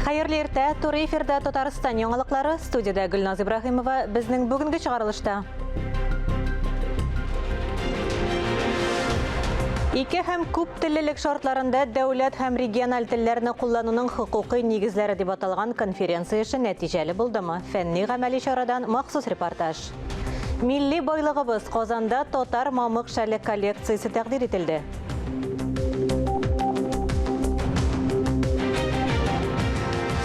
Хәерле иртә, туры эфирда Татарстан яңалыклары, студиядә Гөлназ Ибраһимова. Безнең бүгенге чыгарылышта. Ике һәм күп теллелек шартларында дәүләт һәм региональ телләрне куллануның хокукый нигезләре дип аталган конференция эше нәтиҗәле булдымы? Фәнни-гамәли чарадан махсус репортаж. Милли байлыгыбыз Казанда татар мамык шәле коллекциясе тәкъдир ителде.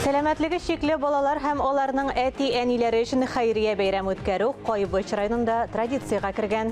Сәламәтлеге чикле балалар һәм аларның әти-әниләре өчен хәйрия бәйрәм үткәрү Кайбыч районында традициягә кергән.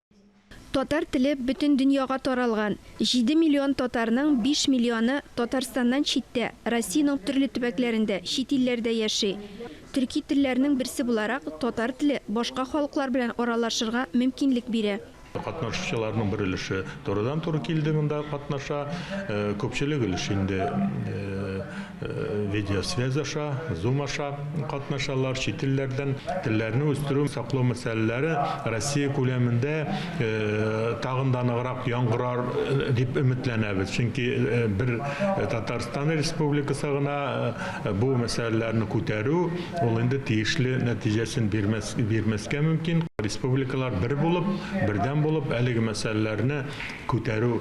Татар теле бөтен дөньяга таралган. Җиде миллион татарның биш миллионы Татарстаннан читтә, Россиянең төрле төбәкләрендә, чит илләрдә яши. Төрки телләрнең берсе буларак, татар теле башка халыклар белән аралашырга мөмкинлек бирә. Катнашучыларның бер өлеше турыдан-туры килде монда катнаша, күпчелек өлеш инде видеосвязь аша, Zoom аша катнашалар, чит илләрдән телләрне үстерү, саклау мәсьәләләре Россия күләмендә тагын да ныграк яңгырар дип өметләнәбез. Чөнки бер Татарстан Республикасы гына бу мәсьәләләрне күтәрү, ул инде тиешле нәтиҗәсен бирмәс, бирмәскә мөмкин. Республикалар бер булып, бердәм булып әлеге мәсьәләләрне күтәрү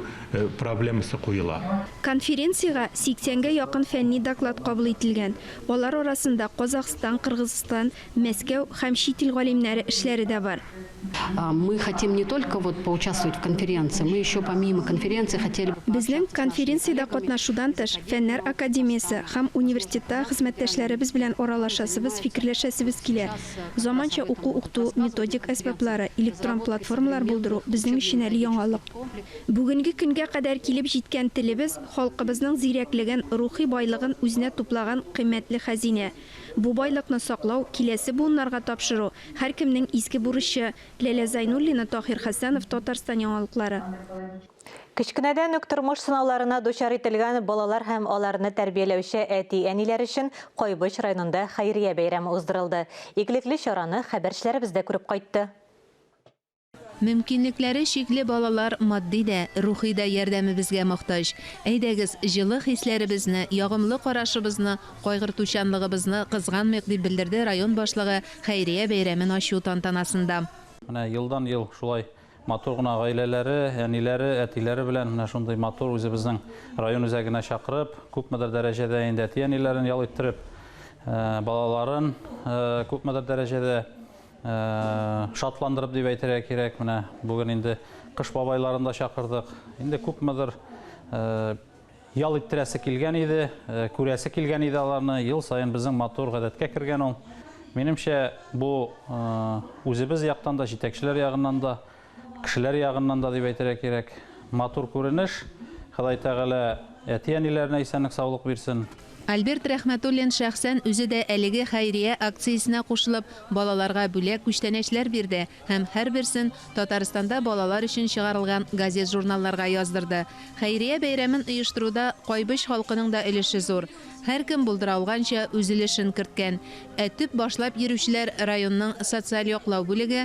проблемасы куела. Конференциягә сиксәнгә якын фәнни доклад кабул ителгән, алар арасында Казахстан, Кыргызстан, Мәскәү һәм чит ил галимнәре эшләре дә бар. Мы хотим не только вот поучаствовать в конференции, мы еще помимо конференции хотели бы пообщаться с нашими коллегами. Безнең конференциядә катнашудан тыш, Фәннәр академиясе һәм университеттагы хезмәттәшләребез белән аралашасыбыз, фикерләшәсебез килә. Заманча уку-укыту, методик әсбаплары, электрон платформалар булдыру безнең өчен әле яңалык. Бүгенге көнгә кадәр килеп җиткән телебез, халкыбызның зирәклеген, рухи байлыгын үзенә туплаган кыйммәтле хәзинә. Бу байлыкны саклау, киләсе буыннарга тапшыру, һәркемнең изге бурычы. Ләлә Зайнуллина, Таһир Хәсәнов, Татарстан яңалыклары. Кечкенәдән үк тормыш сынауларына дучар ителгән балалар һәм аларны тәрбияләүче әти-әниләр өчен Кайбыч районында хәйрия бәйрәме уздырылды. Игелекле чараны хәбәрчеләребез дә күреп кайтты. Мөмкинлекләре чикле балалар матди дә, рухи да ярдәмебезгә мохтаҗ. Әйдәгез, җылы хисләребезне, ягымлы карашыбызны, кайгыртучанлыгыбызны кызганмыйк, дип белдерде район башлыгы хәйрия бәйрәмен ачу тантанасында. Менә елдан-ел шулай матур гына гаиләләре, әниләре, әтиләре белән менә шундый матур үзебезнең район үзәгенә чакырып, күпмедер дәрәҗәдә инде әти-әниләрен ял иттереп, балаларын күпмедер дәрәҗәдә Шатландырып дип әйтергә кирәк, менә бүген инде Кыш бабайларын да чакырдык. Инде күпмедер ял иттерәсе килгән иде, күрәсе килгән иде аларны. Ел саен безнең матур гадәткә кергән ул. Минемчә, бу үзебез яктан да, җитәкчеләр ягыннан да Кешеләр ягыннан да дип әйтергә кирәк. Матур күренеш. Ходай Тәгалә әти-әниләренә исәнлек-саулык бирсен. Альберт Рәхмәтуллин шәхсән үзе дә әлеге хәйрия акциясенә кушылып, балаларга бүләк күчтәнәчләр бирде һәм һәрберсен Татарстанда балалар өчен чыгарылган газет-журналларга яздырды. Хәйрия бәйрәмен оештыруда Кайбыч халкының да өлеше зур. Һәркем булдыра алганча үз өлешен керткән. Ә төп башлап йөрүчеләр районның социаль яклау бүлеге,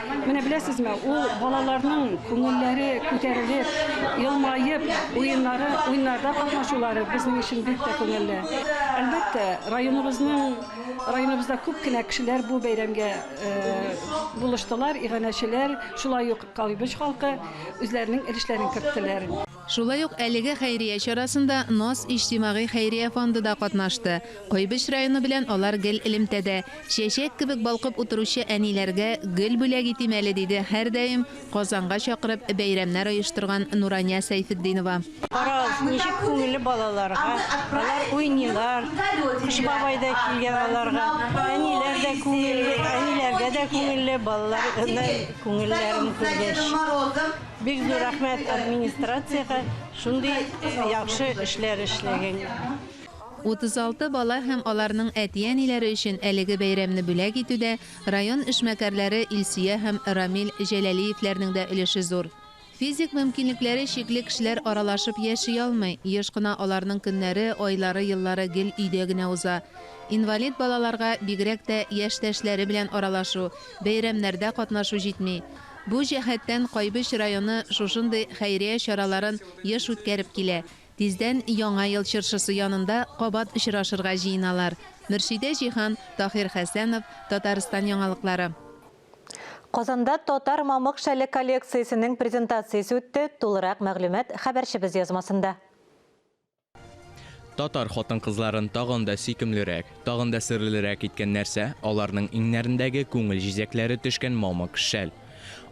Менә беләсезме, ул балаларның күңелләре күтәрелеп, елмаеп, уеннары, уеннарда катнашулары безнең өчен бик тә күңелле. Әлбәттә, районыбызның районыбызда күп кенә кешеләр бу бәйрәмгә булыштылар, иганәчеләр, шулай ук Калыбыч халкы үзләренең өлешләрен керттеләр. Шулай ук әлеге хәйрия чарасында НАС иҗтимагый хәйрия фонды да катнашты. Кайбыч районы белән алар гел элемтәдә. Чәчәк кебек балкып утыручы әниләргә гөл бүләк итим әле, диде һәрдаим Казанга чакырып бәйрәмнәр оештырган Нурания Сәйфетдинова. Карагыз, ничек күңелле балаларга, алар уйныйлар, Кыш бабай да килгән аларга. Әниләр дә күңелле, әниләргә дә күңелле, балаларның күңелләрен күргәч. Бик зур рәхмәт администрациягә шундый яхшы эшләр эшләгәнгә. 36 бала һәм аларның әти-әниләре өчен әлеге бәйрәмне бүләк итүдә район эшмәкәрләре Илсөя һәм Рамил Җәләлиевләрнең дә өлеше зур. Физик мөмкинлекләре чикле кешеләр аралашып яши алмый, еш кына аларның көннәре, айлары, еллары гел өйдә генә уза. Инвалид балаларга, бигрәк тә, яшьтәшләре белән аралашу, бәйрәмнәрдә катнашу җитми. Бу җәһәттән Кайбыч районы шушындый хәйрия чараларын еш үткәреп килә. Тиздән Яңа ел чыршысы янында кабат очрашырга җыеналар. Мөршидә Җиһан, Таһир Хәсәнов, Татарстан яңалыклары. Казанда татар мамык шәле коллекциясенең презентациясе үтте, тулырак мәгълүмат хәбәрчебез язмасында. Татар хатын-кызларын тагын да сөйкемлерәк, тагын да серлерәк иткән нәрсә, аларның иңнәрендәге күңел җизәкләре төшкән мамык шәл.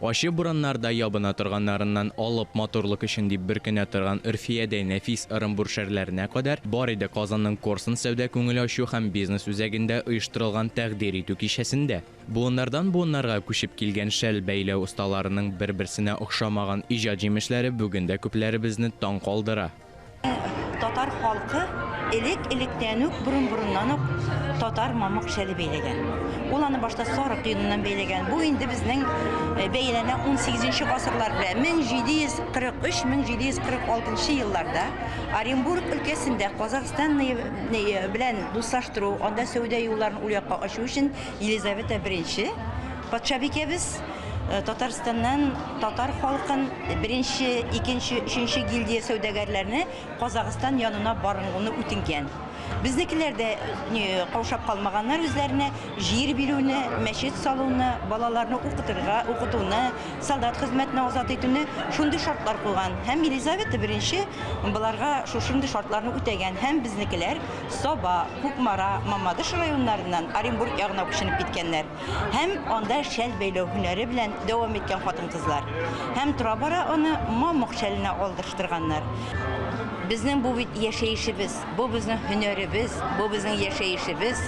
Ачы бураннарда ябына торганнарыннан алып матурлык өчен дип бөркенә торган Өрфиядәй нәфис ырымбур шәрләренә кадәр бар иде Казанның Корсун сәүдә-күңел ачу һәм бизнес үзәгендә оештырылган тәкъдир итү кичәсендә. Буыннардан буыннарга күчеп килгән шәл бәйләү осталарының бер-берсенә охшамаган иҗат җимешләре бүген дә күпләребезне таң калдыра. Татар халкы элек-электән үк, борын-борыннан ук татар мамык шәле бәйләгән. Ул аны башта сарык йоныннан бәйләгән. Бу инде безнең э, бәяләнә 18 гасырлар белән 1743-1746 елларда Оренбург өлкәсендә Казахстан белән дуслаштыру, анда сәүдә юлларын ул якка ачу өчен Елизавета I, патшабикәбез Татарстаннан татар халкын, беренче, икенче, өченче гильдия сәүдәгәрләрне Казахстан янына баруны үтенгән. Безнекеләр дә каушап калмаганнар үзләренә җир бирүне, мәчет салуны, балаларны укытырга, укытуны, солдат хезмәтенә азат итүне шундый шартлар куйган. Һәм Елизавета I боларга шушындый шартларны үтәгән һәм безнекеләр Саба, Кукмара, Мамадыш районнарыннан Оренбург ягына күченеп киткәннәр һәм анда шәл бәйләү һөнәре белән дәвам иткән хатын-кызлар һәм тора-бара аны мамык шәленә алдырыштырганнар. Безнең бу бит яшәешебез, бу безнең һөнәребез, бу безнең яшәешебез.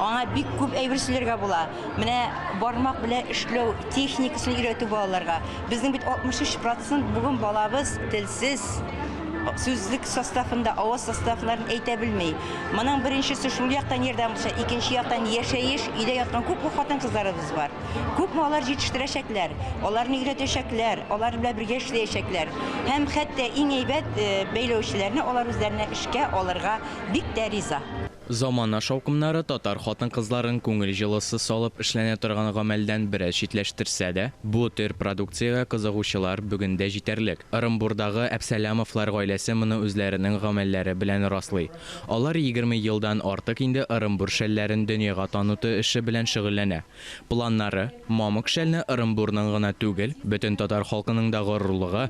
Аңа бик күп әйбер сөйләргә була. Менә бармак белән эшләү техникасын өйрәтү балаларга. Безнең бит 63 процент бүген балабыз тел. Сез сүзлек составында авыз составларын әйтә белми. Моның беренчесе шул яктан ярдәм булса, икенче яктан яшәеш, өйдә яткан күпме хатын-кызларыбыз бар. Күпме алар җитештерәчәкләр, аларны өйрәтәчәкләр, алар белән бергә эшләячәкләр. Һәм хәтта иң әйбәт, бәйләүчеләрне алар үзләренә эшкә алырга бик тә риза. Замана шаукымнары татар хатын-кызларын күңел җылысы салып эшләнә торган гамәлдән бераз читләштерсә дә, бу төр продукциягә кызыгучылар бүген дә җитәрлек. Ырымбурдагы Әпсәләмовлар гаиләсе моны үзләренең гамәлләре белән раслый. Алар егерме елдан артык инде Ырымбур шәлләрен дөньяга таныту эше белән шөгыльләнә. Планнары, мамык шәлне Ырымбурның гына түгел, бөтен татар халкының да горурлыгы,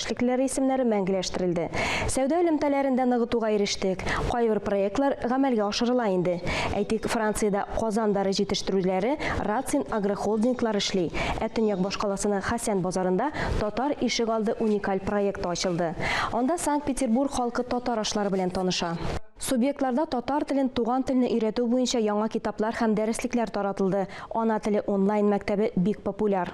Шәкелтләр исемнәре мәңгеләштерелде. Сәүдә элемтәләрен дә ныгытуга ирештек. Кайбер проектлар гамәлгә ашырыла инде. Әйтик, Франциядә Казан дары җитештерүчеләре Рацин агрохолдинглар эшли, ә төньяк башкаласының Хәсән базарында Татар ишек алды уникаль проекты ачылды. Анда Санкт-Петербург халкы татар ашлары белән таныша. Субъектларда татар телен туган телне өйрәтү буенча яңа китаплар һәм дәреслекләр таратылды, Ана теле онлайн-мәктәбе бик популяр.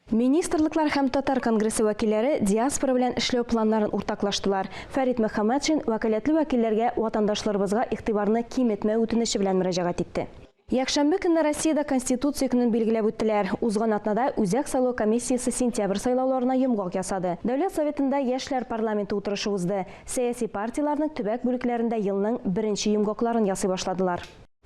Министрлыклар һәм татар конгрессы вәкилләре диаспора белән эшләү планнарын уртаклаштылар. Фәрит Мөхәммәтшин вәкаләтле вәкилләргә ватандашларыбызга игътибарны киметмәү үтенече белән мөрәҗәгать итте. Якшәмбе көнне Россиядә Конституция көнен билгеләп үттеләр. Узган атнада Үзәк сайлау комиссиясе сентябрь сайлауларына йомгак ясады. Дәүләт Советында яшьләр парламенты утырышы узды. Сәяси партияләрнең төбәк бүлекләрендә елның беренче йомгакларын ясый башладылар.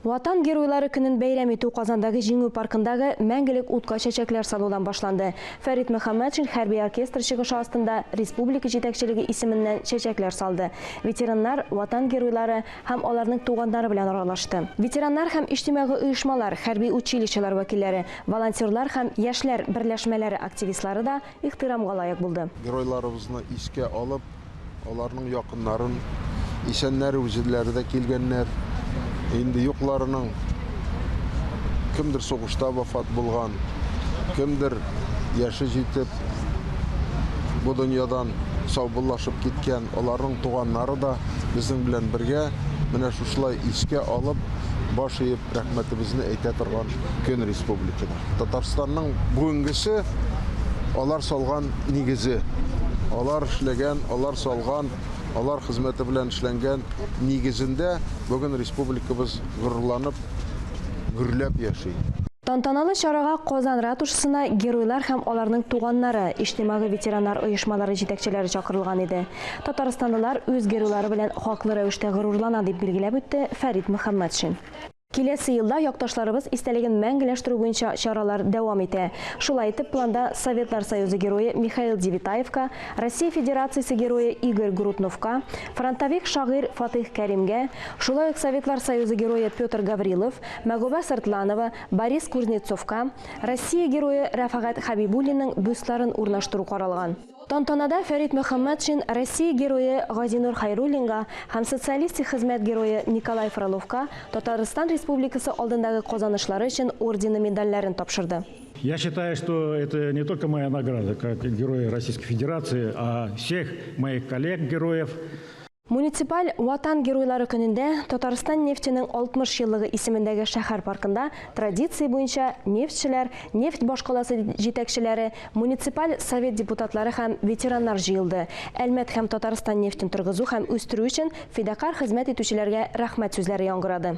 Ватан Геройлары көнен бәйрәм итү Казандагы Җиңү паркындагы Мәңгелек утка чәчәкләр салудан башланды. Фәрит Мөхәммәтшин хәрби оркестр чыгышы астында республика җитәкчелеге исеменнән чәчәкләр салды, ветераннар, Ватан Геройлары һәм аларның туганнары белән аралашты. Ветераннар һәм иҗтимагый оешмалар, хәрби училищелар вәкилләре, волонтерлар һәм яшьләр берләшмәләре активистлары да ихтирамга лаек булды. Геройларыбызны искә алып, аларның якыннарын, исәннәр, үзләре дә килгәннәр, инде юкларының, кемдер сугышта вафат булган, кемдер яше җитеп, бу дөньядан саубуллашып киткән, аларның туганнары да безнең белән бергә менә шушылай искә алып, баш иеп, Рәхмәтебезне әйтә торган көн республикада. Татарстанның бүгенгесе алар салган нигезе. Алар эшләгән, алар салган, алар хезмәте белән эшләнгән нигезендә бүген республикабыз горурланып, гөрләп яши. Тантаналы чарага Казан ратушасына геройлар һәм аларның туганнары, иҗтимагый-ветераннар оешмалары җитәкчеләре чакырылган иде. Татарстанлылар үз геройлары белән хаклы рәвештә горурлана, дип билгеләп үтте Фәрит Мөхәммәтшин. Киләсе елда якташларыбыз истәлеген мәңгеләштерү буенча чаралар дәвам итә. Шулай итеп, планда Советлар Союзы Герое Михаил Девятаевка, Россия Федерациясе Герое Игорь Грутновка, фронтовик шагыйрь Фатыйх Кәримгә, шулай ук Советлар Союзы Герое Петр Гаврилов, Мәгүбә Сыртланова, Борис Кузнецовка, Россия Герое Рәфәгать Хәбибуллинның бюстларын урнаштыру каралган. Тантанада Фәрит Мөхәммәтшин Россия Герое Газинур Хәйруллинга һәм Социалистик Хезмәт Герое Николай Фроловка Татарстан Республикасы алдындагы казанышлары өчен ордены-медальләрен тапшырды. Я считаю, что это не только моя награда как Героя Российской Федерации, а всех моих коллег-героев. Муниципаль Ватан геройлары көнендә Татарстан нефтенең 60 еллыгы исемендәге шәһәр паркында традиция буенча нефтьчеләр, нефть башкаласы җитәкчеләре, муниципаль совет депутатлары һәм ветераннар җыелды, Әлмәт һәм Татарстан нефтен торгызу һәм үстерү өчен фидакарь хезмәт итүчеләргә рәхмәт сүзләре яңгырады.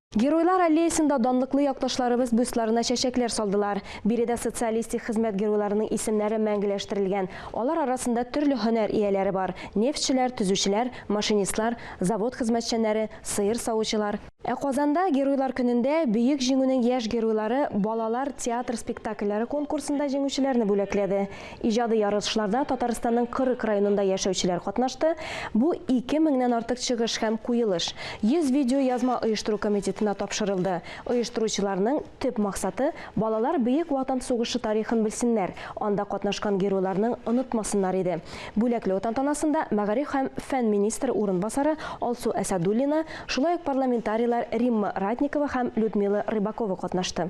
Геройлар аллеясында данлыклы якташларыбыз бюстларына чәчәкләр салдылар. Биредә социалистик хезмәт геройларының исемнәре мәңгеләштерелгән. Алар арасында төрле һөнәр ияләре бар, нефтьчеләр, төзүчеләр, машинистлар, завод хезмәтчәннәре, сыер савучылар. Ә Казанда Геройлар көнендә Бөек Җиңүнең яшь геройлары балалар театр спектакльләре конкурсында җиңүчеләрне бүләкләде. Иҗади ярышларда Татарстанның 40 районында яшәүчеләр катнашты. Бу ике меңнән артык чыгыш һәм куелыш. 100 видеоязма оештыру комитетына тапшырылды. Оештыручыларның төп максаты, балалар Бөек Ватан сугышы тарихын белсеннәр, анда катнашкан геройларның онытмасыннар иде. Бүләкләү тантанасында мәгариф һәм фән министры урынбасары Алсу Әсәдуллина, шулай ук парламентарийлар Римма Ратникова һәм Людмила Рыбакова катнашты.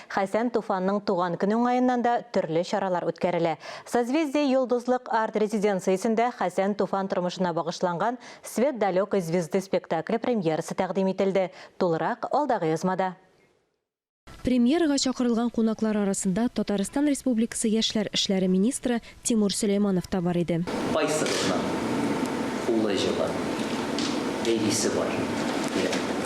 Хәсән Туфанның туган көне уңаеннан да төрле чаралар үткәрелә. Созвездие Йолдызлык арт-резиденциясендә Хәсән Туфан тормышына багышланган Свет далекой звезды спектакле премьерасы тәкъдим ителде. Тулырак алдагы язмада. Премьерага чакырылган кунаклар арасында Татарстан Республикасы яшьләр эшләре министры Тимур Сөләйманов та бар иде. Кайсыгызның улы җылы, бәбисе бар йөрәгендә?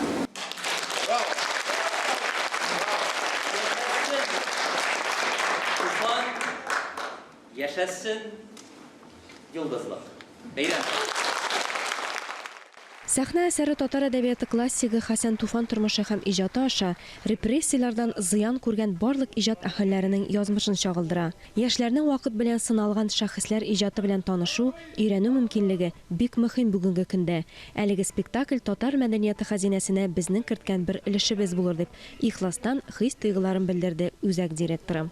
Сәхнә әсәре татар әдәбияты классигы Хәсән Туфан тормышы һәм иҗаты аша репрессияләрдән зыян күргән барлык иҗат әһелләренең язмышын чагылдыра. Яшьләрнең вакыт белән сыналган шәхесләр иҗаты белән танышу, өйрәнү мөмкинлеге бик мөһим бүгенге көндә. Әлеге спектакль татар мәдәнияты хәзинәсенә безнең керткән бер өлешебез булыр, дип ихластан хис-тойгыларын белдерде үзәк директоры.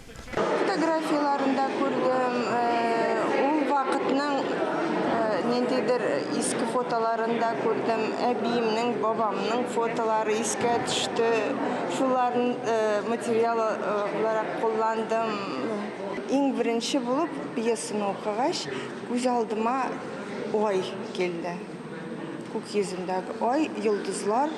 Фотографияләрендә күрдем, ул вакытның ниндидер иске фотоларын да күрдем, әбиемнең, бабамның фотолары искә төште, шуларны материал буларак кулландым. Иң беренче булып пьесаны укыгач, күз алдыма ай килде, күк йөзендәге ай, йолдызлар.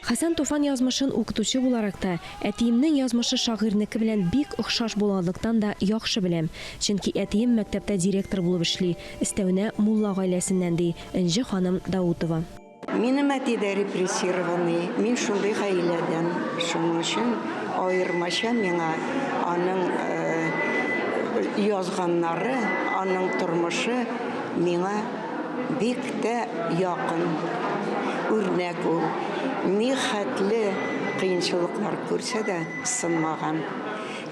Хәсән Туфан язмышын укытучы буларак та, әтиемнең язмышы шагыйрьнеке белән бик охшаш булганлыктан да яхшы беләм. Чөнки әтием мәктәптә директор булып эшли, өстәвенә мулла гаиләсеннән, ди Энҗе ханым Даутова. Минем әти дә репрессированный, мин шундый гаиләдән, шуның өчен аермача миңа аның язганнары, аның тормышы миңа. Бик тә якын үрнәк ул. Нихәтле кыенчылыклар күрсә дә сынмаган,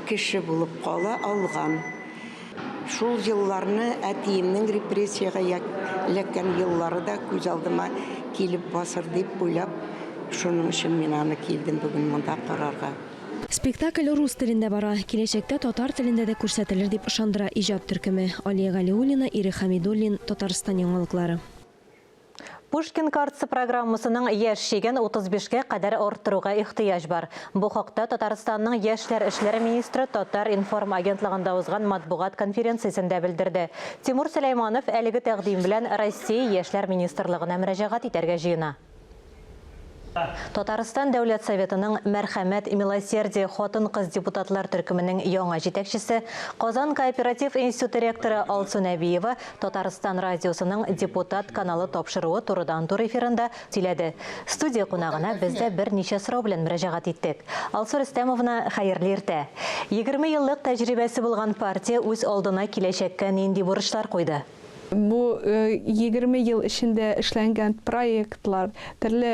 кеше булып кала алган. Шул елларны, әтиемнең репрессиягә эләккән еллары да күз алдыма килеп басыр дип уйлап, шуның өчен мин аны килдем бүген монда карарга. Спектакль рус телендә бара, киләчәктә татар телендә дә күрсәтелер, дип ышандыра иҗат төркеме. Алия Галиуллина, Ирек Хәмидуллин, Татарстан яңалыклары. Pushkin Cards программасының яшь чиген 35 кә кадәр арттыруга ихтыяҗ бар. Бу хакта Татарстанның яшьләр эшләре министры Татар-информ агентлыгында узган матбугат конференциясендә белдерде. Тимур Сөләйманов әлеге тәкъдим белән Россия Яшьләр министрлыгына мөрәҗәгать итәргә җыена. Татарстан Дәүләт Советының Мәрхәмәт, милосердие хатын-кыз депутатлар төркеменең яңа җитәкчесе, Казан кооператив институты ректоры Алсу Нәбиева Татарстан радиосының Депутат каналы тапшыруы турыдан-тур эфирында сөйләде. Студия кунагына без дә берничә сорау белән мөрәҗәгать иттек. Алсу Рөстәмовна, хәерле иртә! Егерме еллык тәҗрибәсе булган партия үз алдына киләчәккә нинди бурычлар куйды? Бу егерме ел эчендә эшләнгән проектлар, төрле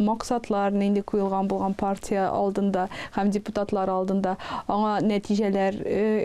максатлар нинди куелган булган партия алдында һәм депутатлар алдында, аңа нәтиҗәләр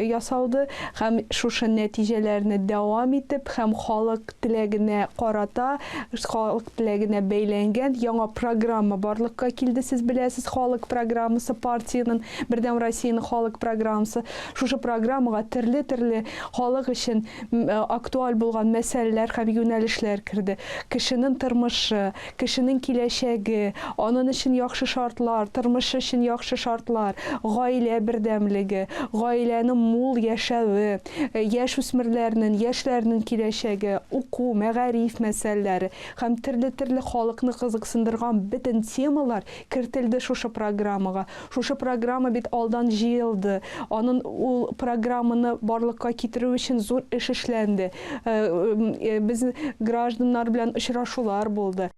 ясалды һәм шушы нәтиҗәләрне дәвам итеп һәм халык теләгенә карата, халык теләгенә бәйләнгән яңа программа барлыкка килде, сез беләсез, халык программасы, партиянең, Бердәм Россиянең халык программасы. Шушы программага төрле-төрле халык өчен актуаль булган мәсьәләләр һәм юнәлешләр керде. Кешенең тормышы, кешенең киләчәге, анын өчен яхшы шартлар, тормыш өчен яхшы шартлар, гаилә бердәмлеге, гаиләнең мул яшәве, яшь үсмерләрнен, яшьләрнен киләчәге, уку, мәгариф мәсьәләләре һәм терле-терле халыкны кызыксындырган бөтен темалар кертелде шушы программага. Шушы программа бит алдан җыелды. Анын ул программаны барлыкка китерү өчен зур эш эшләнде. Без гражданнар белән очрашулар булды.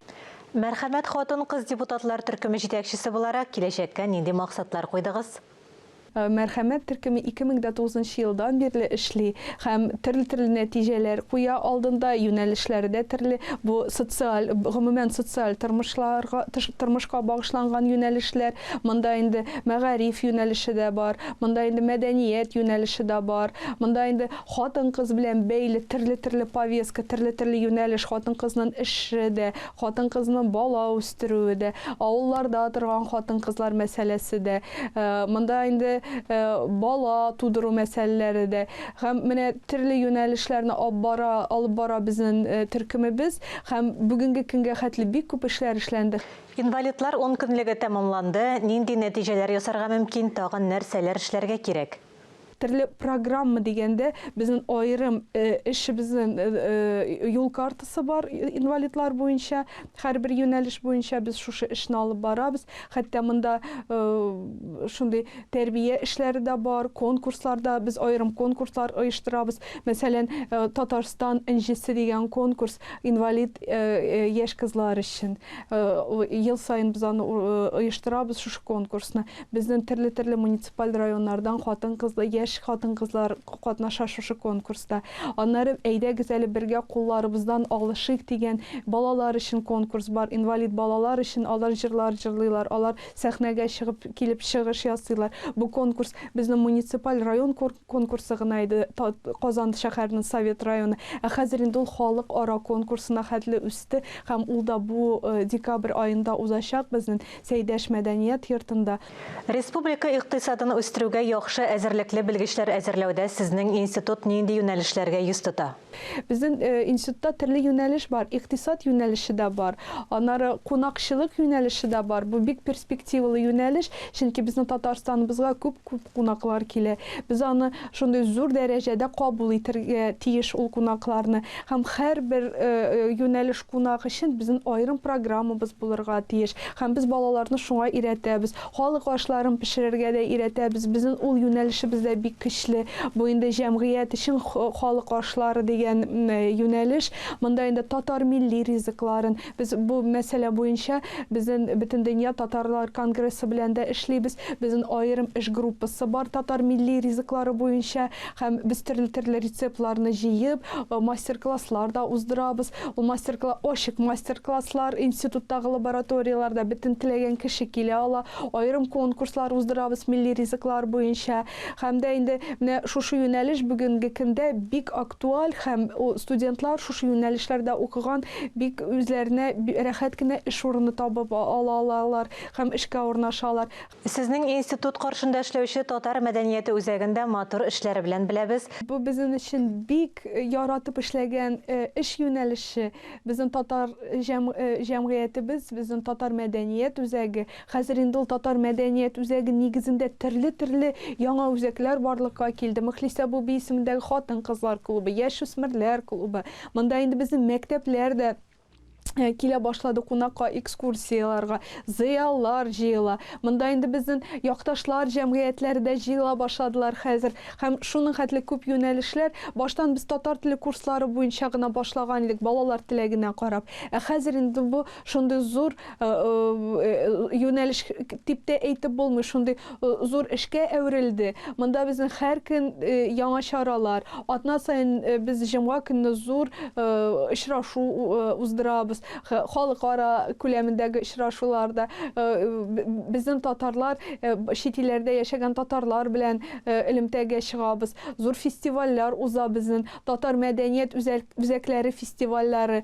Мәрхәмәт хатын-кыз депутатлар төркеме җитәкчесе буларак, киләчәккә нинди максатлар куйдыгыз? Мәрхәмәт төркеме 2009 елдан бирле эшли. һәм терлтерле нәтиҗәләр куя алдында, юнәлешләре дә терле, бу социаль, гомумән социаль тормышларга, тормышка багышланган юнәлешләр, монда инде мәгариф юнәлеше дә бар, монда инде мәдәният юнәлеше дә бар, монда инде хатын-кыз белән бәйле терлтерле повестка, терлтерле юнәлеш, хатын-кызның эше дә, Хатын-кызны бала үстерүе дә, авылларда торган хатын-кызлар мәсьәләсе дә, монда инде бала тудыру мәсьәләләре дә һәм менә төрле юнәлешләрне ап бара, алып бара безнен төркемебез һәм бүгенге көнгә хәтле бик күп эшләр эшләнде. Инвалидлар ункөнлеге тәмамланды, нинди нәтиҗәләр ясарга мөмкин, тагын нәрсәләр эшләргә кирәк? Төрле программа дигәндә, безнең аерым эшебезнең юл картасы бар инвалидлар буенча. Һәрбер юнәлеш буенча без шушы эшне алып барабыз. Хәтта монда шундый тәрбия эшләре дә бар, конкурслар да, без аерым конкурслар оештырабыз. Мәсәлән, Татарстан энҗесе дигән конкурс инвалид яшь кызлар өчен. Ел саен без аны оештырабыз, шушы конкурсны. Безнең төрле-төрле муниципаль Тупаль районнардан хатын-кызлар, яшь хатын-кызлар катнаша шушы конкурста. Аннары Әйдәгез әле бергә кулларыбыздан алышыйк дигән балалар өчен конкурс бар. Инвалид балалар өчен алар җырлар җырлыйлар, алар сәхнәгә чыгып килеп чыгыш ясыйлар. Бу конкурс безнең муниципаль район конкурсы гына иде, Казан шәһәренең Совет районы. Ә хәзер инде ул халыкара конкурсына хәтле үсте һәм ул да бу декабрь аенда узачак безнең Сәйдәш мәдәният йортында. Республика икътисадын үстерүгә яхшы әзерлекле белгечләр әзерләүдә сезнең институт нинди юнәлешләргә йөз тота? Безнең институтта төрле юнәлеш бар. Икътисад юнәлеше дә бар. Аннары кунакчылык юнәлеше дә бар. Бу бик перспективалы юнәлеш, чөнки безнең Татарстаныбызга күп-күп кунаклар килә. Без аны шундый зур дәрәҗәдә кабул итәргә тиеш ул кунакларны. Һәм һәрбер юнәлеш Кунак өчен безнен аерым программабыз булырга тиеш һәм без балаларны шуңа өйрәтәбез. Халык ашларын пешерергә дә өйрәтәбез. Безнен ул юнәлешебез дә бик көчле. Бу инде җәмгыять өчен халык ашлары дигән юнәлеш. Монда инде татар милли ризыкларын, без бу мәсьәлә буенча безнен Бөтендөнья татарлар конгрессы белән дә эшлибез. Безнен аерым эш группасы бар татар милли ризыклары буенча. Һәм без төрле-төрле рецептларны җыеп, мастер-класслар да уздырабыз. Ул мастер-кла ачык мастер-класслар, институттагы лабораторияләрдә бөтен теләгән кеше килә ала. Аерым конкурслар уздырабыз милли ризыклар буенча. Һәм дә инде менә шушы юнәлеш бүгенге көндә бик актуаль һәм студентлар шушы юнәлешләрдә укыган бик үзләренә рәхәт кенә эш урыны табып ала алалар һәм эшкә урнашалар. Сезнең институт каршында эшләүче татар мәдәнияте үзәген дә матур эшләре белән беләбез. Бу безнен өчен бик яратып эшләгән эш юнәлеше. Безнен татар җәмгыятебез, безнен татар мәдәният үзәге, хәзер инде ул татар мәдәният үзәге нигезендә терле-терле яңа үзәкләр барлыкка килде. Мөхлисә абуби исемендәге хатын-кызлар клубы, яшүсмерләр клубы, монда инде безнен мәктәпләр дә, Э, килә башлады кунакка экскурсияларга зыяллар җыела монда инде безнең якташлар җәмгыятьләре дә җыела башладылар хәзер һәм шуның хәтле күп юнәлешләр баштан без татар теле курслары буенча гына башлаган идек балалар теләгенә карап ә хәзер инде бу шундый зур Э, э, юнәлеш дип тә әйтеп булмый шундый э, зур эшкә әверелде монда безнең һәр көн яңа чаралар атна саен без җомга көнне зур очрашу уздырабыз халыкара күләмендәге очрашуларда безнең татарлар чит илләрдә яшәгән татарлар белән элемтәгә чыгабыз зур фестивальләр уза безнең татар мәдәният үзәкләре фестивальләре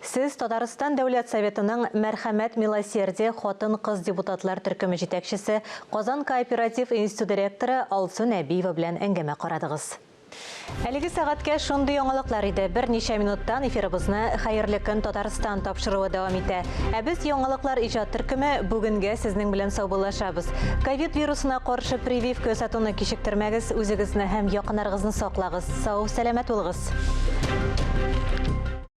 Сез Татарстан Дәүләт Советының Мәрхәмәт, милосердие хатын-кыз депутатлар төркеме җитәкчесе, Казан кооператив институты ректоры Алсу Нәбиева белән әңгәмә карадыгыз. Әлеге сәгатькә шундый яңалыклар иде. Берничә минуттан эфирыбызны Хәерле көн, Татарстан тапшыруы дәвам итә. Ә без Яңалыклар иҗат төркеме бүгенгә сезнең белән саубуллашабыз. Ковид вирусына каршы прививка ясатуны кичектермәгез, үзегезне һәм якыннарыгызны саклагыз. Сау, сәламәт булыгыз!